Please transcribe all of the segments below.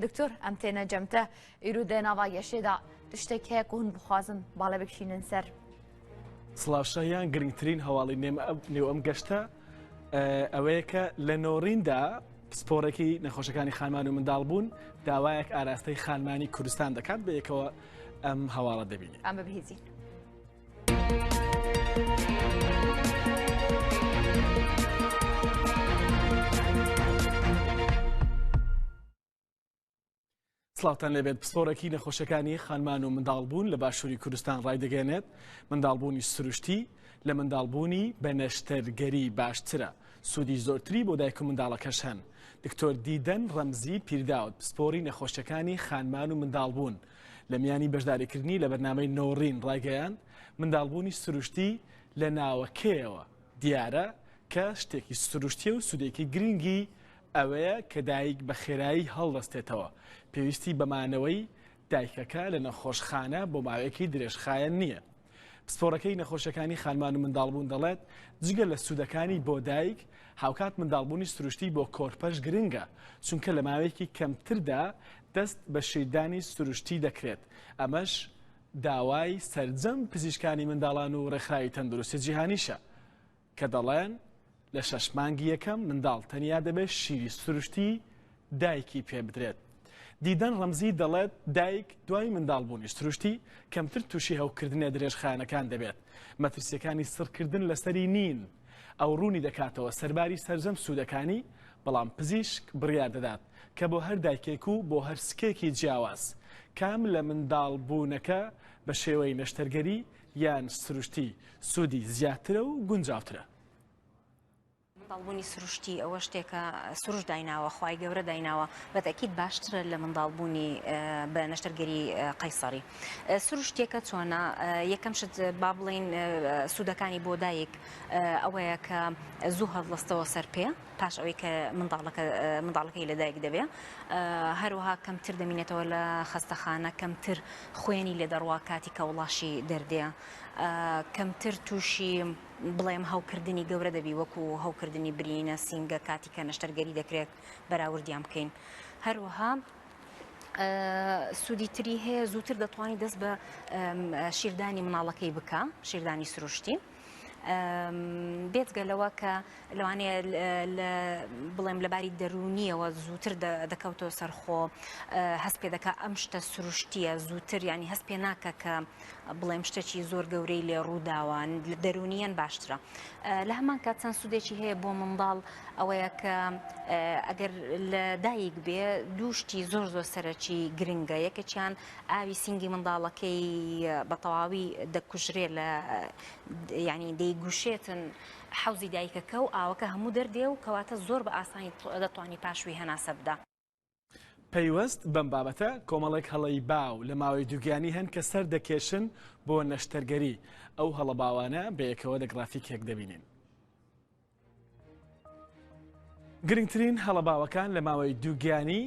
دکتۆر ئەم تێنە جەمتە ئیرو دێ ناوا یەشێدا تشتێک هەیە قون بخوازم باڵێ بکشینن سەر. سڵاوشایان گرنگترین هەواڵی نێو ئەم گەشتە ئەوەیە کە لە نۆڕیندا پسپۆرەکی نەخۆشەکانی خانمان و منداڵ بوون داوایەک ئاراستەی خانمانی کوردستان دەکات بە یەکەوە ئەم هەواڵە دەبینی ئەمە بهێزین. سڵاتان لەبێت پسپۆرەکی نەخۆشەکانی خانمان و منداڵبوون لە باشووری کوردستان ڕایدەگەێنێت منداڵبوونی سروشتی لە منداڵبوونی بە نەشتەرگەری باشترە سوودی زۆرتری بۆ دایک و منداڵەکەش هەن دکتۆر دیدەن ڕەمزی پیرداوت پسپۆری نەخۆشەکانی خانمان و منداڵبوون لە میانی بەشداریکردنی لە بەرنامەی نۆڕین ڕایگەیاند، منداڵبوونی سروشتی لە ناوەکەیەوە دیارە کە شتێکی سروشتیە و سودێکی گرنگی ئەوەیە کە دایک بە خێرایی هەڵدەستێتەوە، پێویستی بە مانەوەی دایکەکە لە نەخۆشخانە بۆ ماوەیەکی درێژخایەن نییە. پسپۆڕەکەی نەخۆشەکانی خانمان و منداڵبوون دەڵێت، جگە لە سوودەکانی بۆ دایک، هاوکات منداڵبوونی سروشتی بۆ کۆرپەش گرنگە، چونکە لە ماوەیەکی کەمتردا دەست بە شیردانی سروشتی دەکرێت، ئەمەش داوای سەرجەم پزیشکانی منداڵان و ڕێکخراوی تەندروستی جیهانیشە. کە دەڵێن لە شەش مانگی یەکەم منداڵ تەنیا دەبێت شیری سروشتی دایکی پێ بدرێت. دیدەن ڕەمزی دەڵێت دایک دوای منداڵبوونی سروشتی کەمتر تووشی هەوکردنە درێژخایەنەکان دەبێت. مەترسیەکانی سڕکردن لەسەری نین. ئەو ڕوونی دەکاتەوە سەرباری سەرجەم سوودەکانی، بەڵام پزیشک بڕیار دەدات کە بۆ هەر دایکێک و بۆ هەر سکێکی جیاواز کام لە منداڵبوونەکە بە شێوەی نەشتەرگەری یان سروشتی سوودی زیاترە و گونجاوترە؟ منداڵبوونی سروشتی ئەوە شتێکە سروش دایناوە خی گەورە دایناوە بەتەکیت باشترە لە منداڵبوونی بە نەشتەرگەری قەیسەری سروشتێکە چۆنا یەکەم شت با بڵین سوودەکانی بۆ دایک ئەوەیە کە زوو هەڵلەستەوە سەر پێ پاش ئەوەی کە منداڵەکە منداڵەکەی لەدایک دەبێ هەروەها کەمتر دەمینێتەوە لە خەستەخانە کەمتر خوێنی لێ دەڕوا کاتی کە وڵاشی دەردێ کەمتر تووشی بڵێم هەوکردنی گەورە دەبی وەکو هەوکردنی برینە سینگە کاتی کە نەشتەرگەری دەکرێت بەراوردیان بکەین هەروەها سوودی تری هەیە زووتر دەتوانانی دەست بە شیردانی مناڵەکەی بکە شیردانی سروشتی. بێجگە لەوە کە لەوانەیە بڵێم لەباری دەرونیەوە زووتر دەکەوتەوە سەرخۆ هەست پێ دەکە ئەم شتە سروشتیە زووتر ینی هەست پێ ناکە کە بڵێم شتێکی زۆر گەورەی لێ ڕووداوان لە دەرونیان باشترە لە هەمان کات چەند سوودێکی هەیە بۆ منداڵ ئەوەیە کە ئەگەر لە دایک بێ دووشتی زۆر زۆر سەرەکی گرنگە یەکەچیان ئاوی سینگی منداڵەکەی بە تەواوی دەکوژرێ لە یعنی دەیگوشێتن حەوزی دایکەکە و ئاوەکە هەموو دەردێ و کەواتە زۆر بە ئاسانی دەتوانانی پاشوی هەناسە بدا. پەیوەست بەم بابەتە کۆمەڵێک هەڵەی باو لە ماوەی دووگیانی هەن کە سەر دەکێشن بۆ نەشتەرگەری، ئەو هەڵە باوانە بەیەکەوە لە گڕافیکێک دەبینین. گرنگترین هەڵە باوەکان لە ماوەی دووگیانی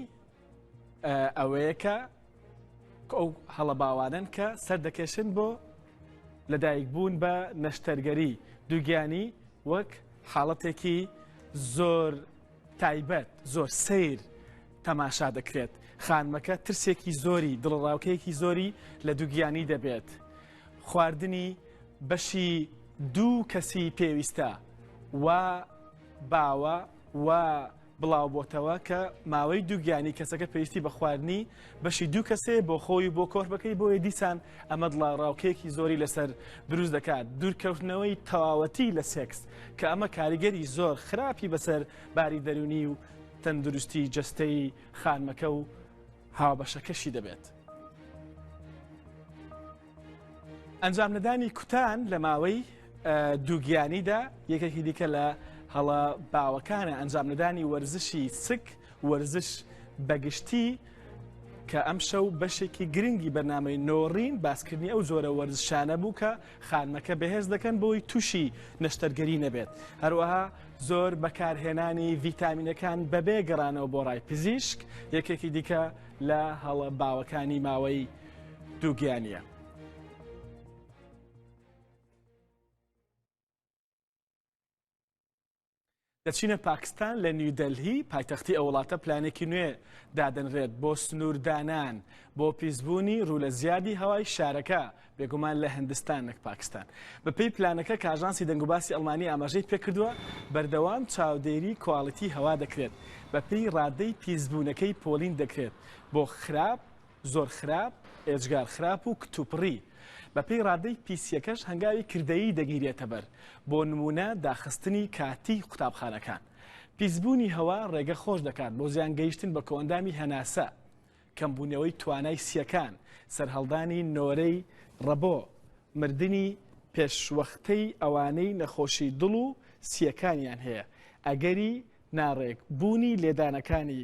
ئەوەیە کە ئەو هەڵە باوانن کە سەردەکێشن بۆ لەدایک بوون بە نەشتەرگەری دووگیانی وەک حاڵەتێکی زۆر تایبەت زۆر سیر تەماشا دەکرێت خانمەکە ترسێکی زۆری دڵڕاوکەیەکی زۆری لە دووگیانی دەبێت خواردنی بەشی دوو کەسی پێویستە وا باوە و بڵاوبۆتەوە کە ماوەی دووگیانی کەسەکە پێویستی بە خواردنی بەشی دوو کەسێ بۆ خۆی بۆ کۆرپەکەی بۆیە دیسان ئەمە دڵاڕاوکەیەکی زۆری لەسەر دروست دەکات دوورکەوتنەوەی تەواوەتی لە سێکس کە ئەمە کاریگەری زۆر خراپی بەسەر باری دەرونی و تەندروستی جستەی خانمەکە و هاوبەشەکەشی دەبێت. ئەنجامنەدانی کوتان لە ماوەی دووگیانیدا یەکێکی دیکە لە هەڵە باوەکانە ئەنجامنەدانی وەرزشی سک وەرزش بەگشتی کە ئەم شەو بەشێکی گرنگی بەنامەی نۆڕین باسکردنی ئەو جۆرە وەرزشانە بوو کە خانمەکە بەهێز دەکەن بۆی توشی نەشتەرگەری نەبێت هەروەها زۆر بەکارهێنانی ڤیتامینەکان بەبێ گەڕانەوە بۆ ڕای پزیشک یەکێکی دیکە لە هەڵە باوەکانی ماوەی دووگیانە. دەچینە پاکستان لە نیودەلهی پایتەختی ئە وڵاتە پلانێکی نوێ دادەنرێت بۆ سنووردانان بۆ پیسبوونی ڕوو لە زیادی هەوای شارەکە بێگومان لە هندستان نەک پاکستان بەپی پلانەکە کاژانسی دەنگوباسی ئەڵمانی ئاماژەی پێکردووە بەردەوام چاودێری کواڵیتی هەوا دەکرێت بەپی ڕادەی پیسبوونەکەی پۆلین دەکرێت بۆ خراپ زۆر خراپ، ئێجگار خراپ و کتوپڕی، بەپێی ڕادەی پیسییەکەش هەنگاوی کردەیی دەگیرێتەبەر، بۆ نموونە داخستنی کاتیی قوتابخانەکان. پیسبوونی هەوا ڕێگە خۆش دەکات بۆ زیان گەیشتن بە کۆئەندامی هەناسە، کەمبوونەوەی توانای سییەکان، سەرهەڵدانی نۆرەی ڕەبۆ، مردنی پێشوەختەی ئەوانەی نەخۆشی دڵ و سییەکانیان هەیە، ئەگەری ناڕێک بوونی لێدانەکانی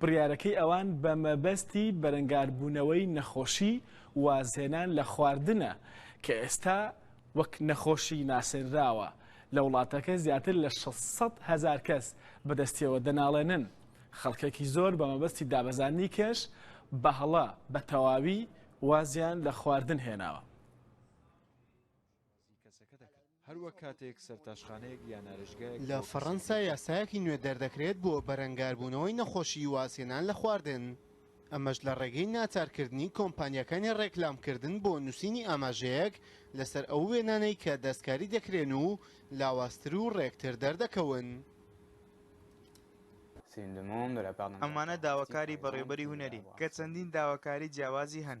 بڕیارەکەی ئەوان بە مەبەستی بەرەنگاربوونەوەی نەخۆشی وازهێنان لە خواردنە کە ئێستا وەک نەخۆشی ناسێنراوە، لە وڵاتەکە زیاتر لە شەش سەد هەزار کەس بەدەستیەوە دەناڵێنن، خەڵکێکی زۆر بە مەبەستی دابەزاندنی کێش بەهەڵە بە تەواوی وازیان لە خواردن هێناوە. لە فەڕەنسا یاسایەکی نوێ دەردەکرێت بۆ بەرەنگاربوونەوەی نەخۆشیی وازهێنان لە خواردن، ئەمەش لە ڕێگەی ناچارکردنی کۆمپانیاکانی ڕێکلامکردن بۆ نووسینی ئاماژەیەک لەسەر ئەو وێنانەی کە دەستکاری دەکرێن و لاوازتر و ڕێکتر دەردەکەون. ئەمانە داواکاری بەڕێوەبەری هونەرین کە چەندین داواکاری جیاوازی هەن.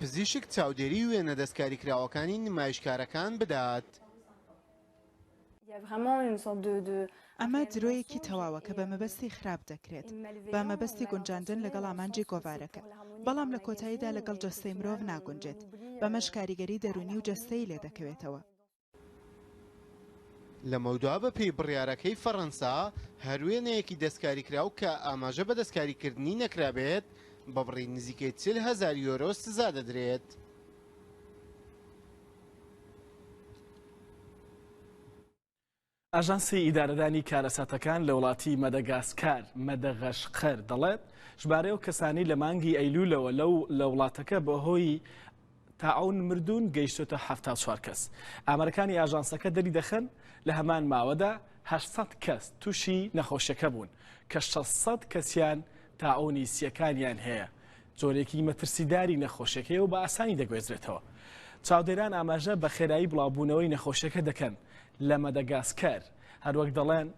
پزیشک چاودێری وێنە دەستکاریکراوەکانی نمایشکارەکان بدات. ئەمە درۆیەکی تەواوە کە بە مەبەستی خراپ دەکرێت، بە مەبەستی گونجاندن لەگەڵ ئامانجی گۆڤارەکە، بەڵام لە کۆتاییدا لەگەڵ جەستەی مرۆڤ ناگونجێت، بەمەش کاریگەری دەروونی و جەستەیی لێدەکەوێتەوە. لەمەودوا بە پێی بڕیارەکەی فەڕەنسا، هەر وێنەیەکی دەستکاریکراو کە ئاماژە بە دەستکاریکردنی نەکرابێت، بە بڕی نزیکەی چل هەزار یۆرۆ سزا دەدرێت. ئاژانسی ئیدارەدانی کارەساتەکان لە وڵاتی مەدەگاسکار، مەدەغەشقەر، دەڵێت، ژمارەی ئەو کەسانەی لە مانگی ئەیلولەوە لەو لە وڵاتەکە بەهۆی تاعوون مردوون گەیشتۆتە حەفتا و چوار کەس. ئامارەکانی ئاژانسەکە دەریدەخەن، لە هەمان ماوەدا هەشت سەد کەس تووشی نەخۆشیەکە بوون، کە شەش سەد کەسیان تاعوونی سییەکانیان هەیە، جۆرێکی مەترسیداری نەخۆشیەکە هەیە و بە ئاسانی دەگوێزرێتەوە. چاودێران ئاماژە بە خێرایی بڵاوبوونەوەی نەخۆشیەکە دەکەن لە مەدەگاسکەر، هەروەک دەڵێن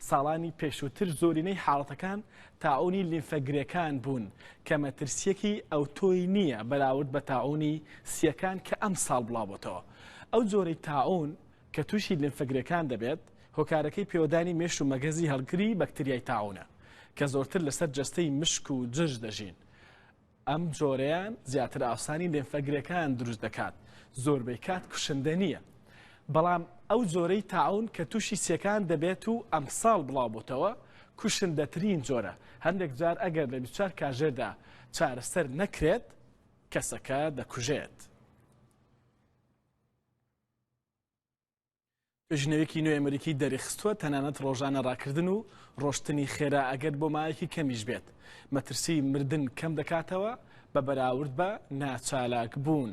ساڵانی پێشووتر زۆرینەی حاڵەتەکان تاعونی لیمفە گرێکان بوون کە مەترسیەکی ئەوتۆی نییە بەراورد بە تاعونی سیەکان کە ئەم ساڵ بڵاوبتەوە ئەو جۆرەی تاعون کە تووشی لیمفەگرێکان دەبێت، هۆکارەکەی پێوەدانی مێش و مەگەزی هەڵگری بەکتریای تاعونە، کە زۆرتر لەسەر جەستەی مشک و جرج دەژین، ئەم جۆرەیان زیاتر ئاوسانی لیمفەگرێکان دروست دەکات، زۆربەی کات کوشندە نییە، بەڵام ئەو جۆرەی تاعون کە تووشی سیەکان دەبێت و ئەمساڵ بڵاوبووتەوە، کوشندەترین جۆرە، هەندێک جار ئەگەر لە بیست و چوار کاژێردا چارەسەر نەکرێت، کەسەکە دەکوژێت. توێژینەوەیەکی نوێی ئەمریکی دەریخستووە تەنانەت ڕۆژانە ڕاکردن و ڕۆشتنی خێرا ئەگەر بۆ مایەکی کەمیش بێت مەترسی مردن کەم دەکاتەوە بە بەراورد بە ناچالاک بوون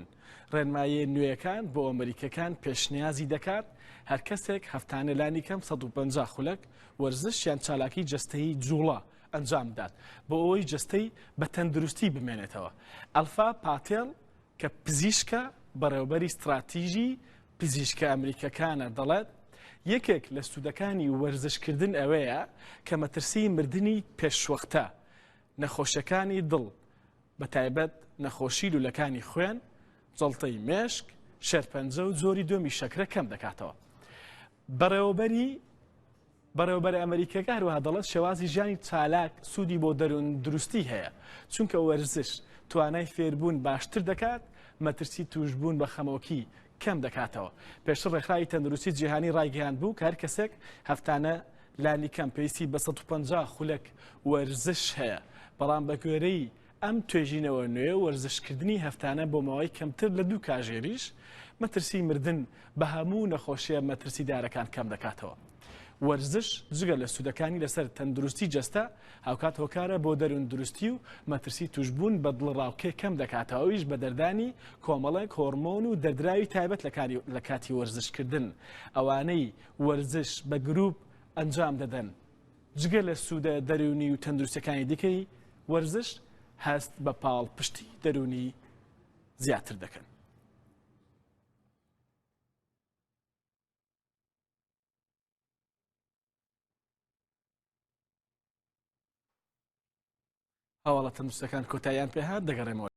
ڕێنمایە نوێیەکان بۆ ئەمریکەکان پێشنیازی دەکات هەر کەسێک هەفتانە لانی کەم 150 خولەک وەرزش یان چالاکی جستەی جوڵە ئەنجام بدات بۆ ئەوەی جستەی بە تەندروستی بمێنێتەوە ئەلفا پاتێڵ کە پزیشکە بەڕێوبەری ستڕاتیژی پزیشکە ئەمریکەکانە دەڵێت، یەکێک لە سوودەکانی وەرزشکردن ئەوەیە کە مەترسیی مردنی پێشوەختە، نەخۆشییەکانی دڵ، بەتایبەت نەخۆشی لوولەکانی خوێن، جەڵتەی مێشک، شێرپەنجە و جۆری دووەمی شەکرە کەم دەکاتەوە. بەڕێوەبەری بەڕێوەبەرە ئەمەریکیەکە هەروەها دەڵێت شێوازی ژیانی چالاک سوودی بۆ دەروون دروستی هەیە چونکە وەرزش توانای فێربوون باشتر دەکات مەترسی توشبوون بە خەمۆکی کەم دەکاتەوە پێشتر ڕێکخراوی تەندروستی جیهانی ڕایگەیاند بوو کار کەسێک هەفتانە لانی کەم پێویستی بە 150 خولەک وەرزش هەیە بەڵام بەگوێرەی ئەم توێژینەوە نوێ وەرزشکردنی هەفتانە بۆ ماوەی کەمتر لە دوو کاژێریش مەترسی مردن بە هەموو نەخۆشیە مەترسیدارەکان کەم دەکاتەوە. وەرزش جگە لە سوودەکانی لەسەر تەندروستی جەستە، هاوکات هۆکارە بۆ دەروون دروستی و مەترسی توشبوون بە دڵەڕاوکێ کەم دەکاتەوە ئەویش بە دەردانی کۆمەڵێک هۆرمۆن و دەردراوی تایبەت لە کاتی وەرزشکردن ئەوانەی وەرزش بە گروپ ئەنجام دەدەن جگە لە سوودە دەروونی و تەندروستییەکانی دیکەی، وەرزش هەست بە پاڵپشتی دەروونی زیاتر دەکەن. هەواڵە تەندروستەکان کۆتاییان پێهات دەگەڕێمەوە.